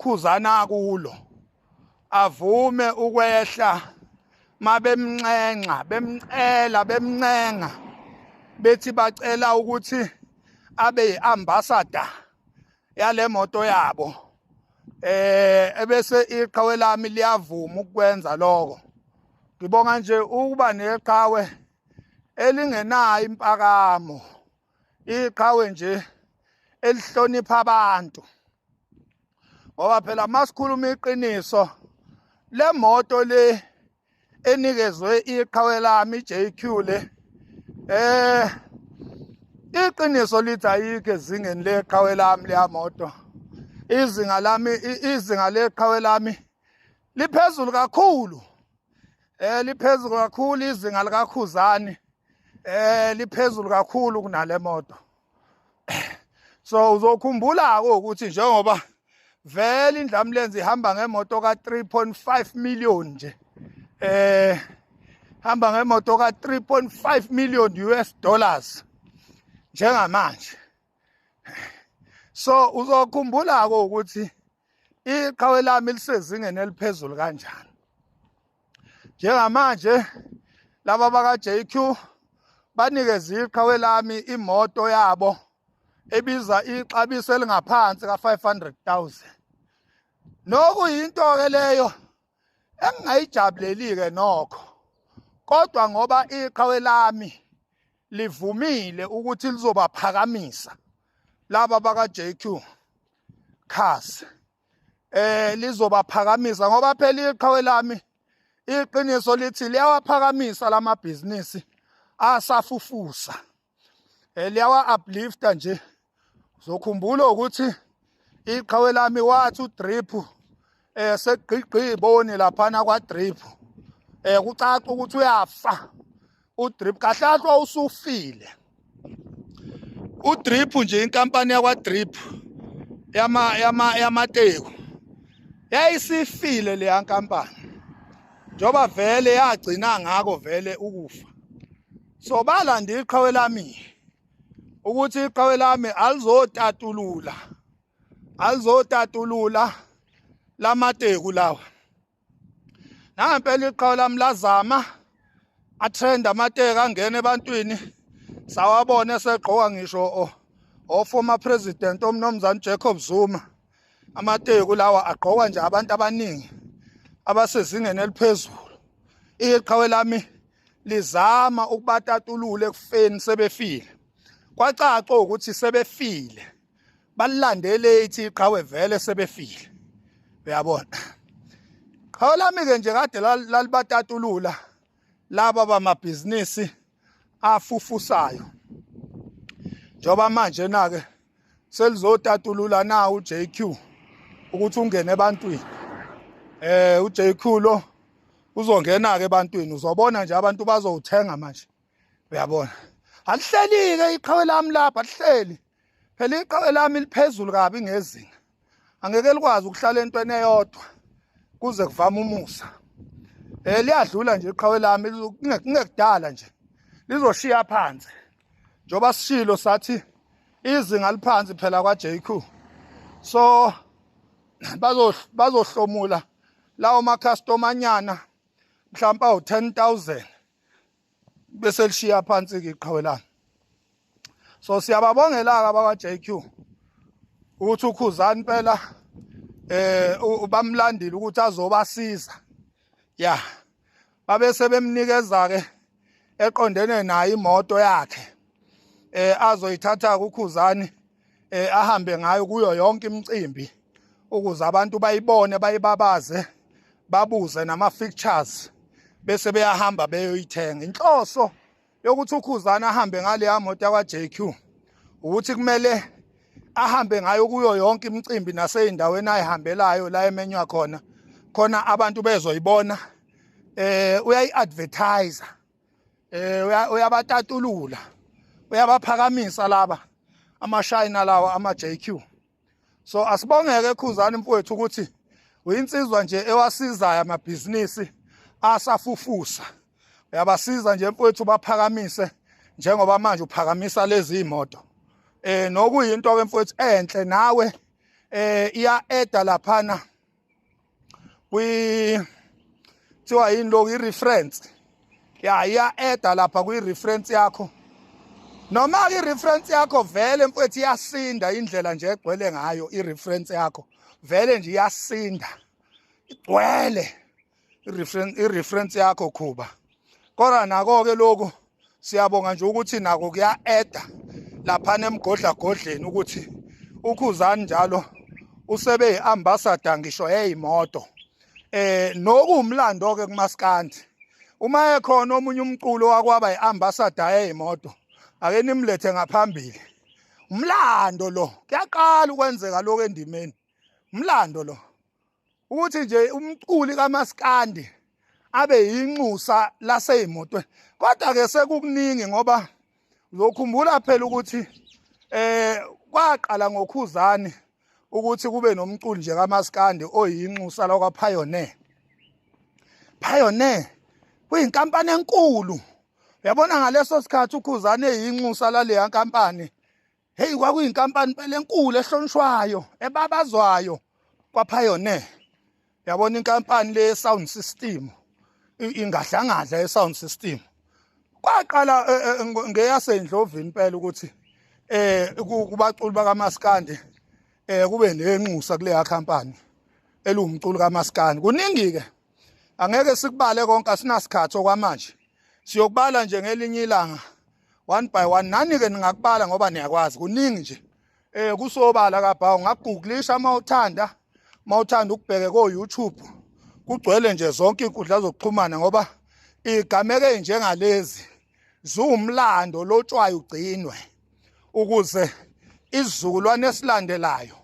khuzana kulo avume ukwehla mabemnxenxa bemcela bemncenga bethi bacela ukuthi abe yiambassador yale moto yabo eh ebese iqhawe lami liyavuma ukwenza lokho ngibonga nje ukuba neqhawe elingenayo impakamo iqhawe nje elihlonipha abantu ngoba phela masikhuluma iqiniso le moto le enikezwe iqhawe lami JQ le eh iqiniso lithi ayikho ezingeni leqhawe lami leya moto izinga lami izinga leqhawe lami liphezulu kakhulu eh liphezulu kakhulu izinga likakhuzani eh liphezulu kakhulu kunale moto so uzokhumbula ke ukuthi njengoba vele indlamlenze ihamba ngemoto ka 3.5 million nje eh hamba ngemoto ka 3.5 million US dollars njengamanje so uzokhumbula ke ukuthi iqhawe lami lisezingeni eliphezulu kanjani njengamanje laba baka-JQ banikeze iqhawe lami imoto yabo ebiza ixabiso elingaphansi ka-500,000 nokuyinto-ke leyo engingayijabuleli-ke nokho kodwa ngoba iqhawe lami livumile ukuthi lizobaphakamisa laba baka-jq cars eh lizobaphakamisa ngoba phela iqhawe lami iqiniso lithi liyawaphakamisa lamabhizinisi asafufusa eh, liyawa uplifta nje zokhumbula ukuthi iqhawe lami wathi udrip eh segqigqi iboni laphana kwa drip eh kucaca ukuthi uyafa udrip kahlahlwa usufile udrip nje inkampani yakwa drip yama yama yamateku yayisifile leya nkampani njoba vele yagcina ngako vele ukufa Sobala ndi iqhawe lami ukuthi iqhawe lami alizotatulula alizotatulula lamateku lawa nangempela iqhawe lami lazama atrend amateka angena ebantwini sawabona esegqoka ngisho oformer president omnomzane Jacob Zuma amateku lawa agqokwa nje abantu abaningi abasezingeni eliphezulu iqhawe lami lizama ukubatatulula ekufeni sebefile kwacaca ukuthi sebefile balilandele ithi iqhawe vele sebefile uyabona qhawe lami ke nje kade lalibatatulula laba bamabhizinisi afufusayo njengoba manje nake selizotatulula na uJQ ukuthi ungene ebantwini eh uJQ lo uzongena ke ebantwini uzobona nje abantu bazowuthenga manje uyabona alihlelike iqhawe lami lapha lihleli phela iqhawe lami liphezulu kabi ngezinga angeke likwazi ukuhlala entweni eyodwa kuze kuvama umusa eh liyadlula nje iqhawe lami kungekudala nje lizoshiya phansi njoba sishilo sathi izinga liphansi phela kwa JQ so bazohlomula lawo ma customer nyana mhlawumbe awu 10000 bese lishiya phansi ke iqhawelana so siyababongela-ke abakwa-jq ukuthi ukhuzani impela eh bamlandile ukuthi azobasiza ya babe sebemnikeza ke eqondene naye imoto yakhe eh azoyithatha kukhuzani eh ahambe ngayo kuyo yonke imicimbi ukuze abantu bayibone bayibabaze babuze nama features bese beyahamba beyoyithenga inhloso yokuthi ukhuzana ahambe ngaleya moto yakwa JQ ukuthi kumele ahambe ngayo kuyo yonke imicimbi naseyindaweni ayihambelayo la emenywa khona khona abantu bezoyibona eh uyayiadvertiser eh uyabatatulula uyabaphakamisa laba amashayina lawa ama JQ so asibongeke khuzani mfowethu ukuthi uyinsizwa nje ewasizayo amabhizinisi asafufusa uyabasiza nje mfowethu baphakamise njengoba manje uphakamisa lezi imoto eh nokuyinto ke mfowethu enhle nawe eh iya eda laphana kwi kuthiwa yini lokhu i-reference ya iya-eda lapha kwi-reference yakho noma-ke i-reference yakho vele mfowethu iyasinda indlela nje egcwele ngayo i-reference yakho vele nje iyasinda igcwele i-reference yakho khuba kodwa nako-ke lokhu siyabonga nje ukuthi nako kuya-eda laphana emgodlagodleni ukuthi ukhuzani njalo usebe yi-ambassador ngisho yeyimoto eh nokuwumlando ke kumaskandi uma ekhona omunye umculo wakwaba iambassador yeyimoto ake nimlethe ngaphambili umlando lo kuyaqala ukwenzeka lokho endimeni umlando lo ukuthi nje umculi kamaskandi abe yinxusa laseyimotweni kodwa ke sekukuningi ngoba uzokhumbula phela ukuthi eh kwaqala ngokhuzani ukuthi kube nomculi nje kamaskandi oyinxusa lakwa Pioneer Pioneer kuyinkampani enkulu yabona ngaleso sikhathi ukhuzani eyinxusa laleya nkampani Hey kwakuyinkampani phela enkulu ehlonishwayo ebabazwayo kwaPioneer. Yabona inkampani le sound system ingahlangadla e sound system. Kwaqala e, e, ngeyasendlovini impela ukuthi eh kubaculi bakaMaskandi eh kube nenxusa kule company elumculi kaMaskandi. Kuningi ke angeke sikubale konke asinasikhathi okwamanje. Siyokubala nje ngelinye ilanga one by one nani ke ningakubala ngoba niyakwazi kuningi nje eh kusobala kabhawu ngagugulisha uma uthanda uma uthanda ukubheke ko YouTube kugcwele nje zonke inkundla zokuxhumana ngoba igameke njengalezi ziwumlando lotshwayo ugcinwe ukuze isizukulwane esilandelayo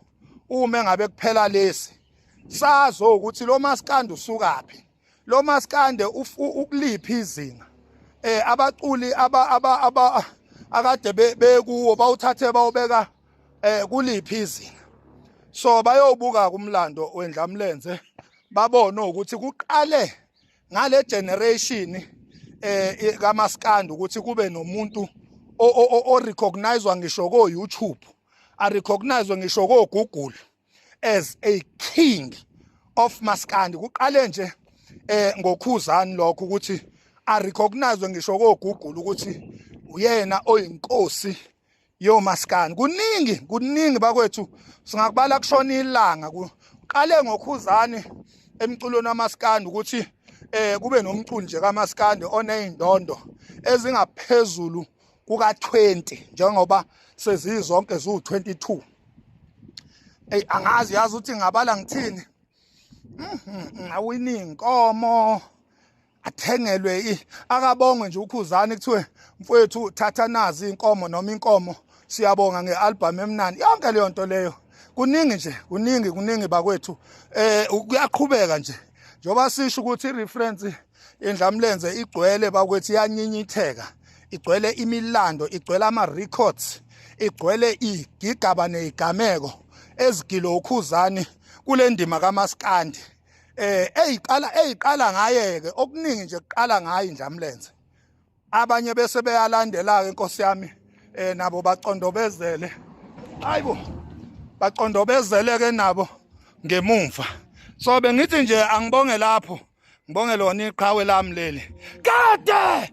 uma ngabe kuphela lesi sazo ukuthi lo maskandi usukaphi lo maskande ukuliphi izinga eh abaculi aba aba aba akade bekuwo bawuthathe bawubeka eh kuliphi izinga so bayobuka kumlando wendlamlenze babone ukuthi kuqale ngale generation eh kamaskandi ukuthi kube nomuntu o recognizwa ngisho ko YouTube a recognizwe ngisho ko Google as a king of maskandi kuqale nje eh ngokhuzani lokho ukuthi a recognize ngisho kogugula ukuthi uyena oyinkosi yomaskani kuningi kuningi bakwethu singakubala kushona ilanga kuqale ngokhuzani emculweni wamaskandi ukuthi eh kube nomculi nje kamaskandi oneyindondo ezingaphezulu kuka-20 njengoba sezizonke ziwu-22 eyi angazi yazi ukuthi ngabala ngithini mhm, awini inkomo athengelwe akabongwe nje ukhuzani kuthiwe mfowethu thatha nazi inkomo noma inkomo siyabonga nge-album emnani yonke leyo nto leyo kuningi nje kuningi kuningi bakwethu eh kuyaqhubeka nje njengoba sisho ukuthi i-reference indlamlenze igcwele bakwethi yanyinyitheka igcwele imilando igcwele ama-records igcwele igigaba neyigameko ezigilo ukhuzani kule ndima kamaskandi eh eyiqala eyiqala ngaye-ke okuningi nje kuqala ngayo indlamlenze abanye bese beyalandela-ke nkosi yami um nabo bacondobezele hayi bo bacondobezele-ke nabo ngemumva so bengithi nje angibonge lapho ngibonge lona iqhawe lami leli kade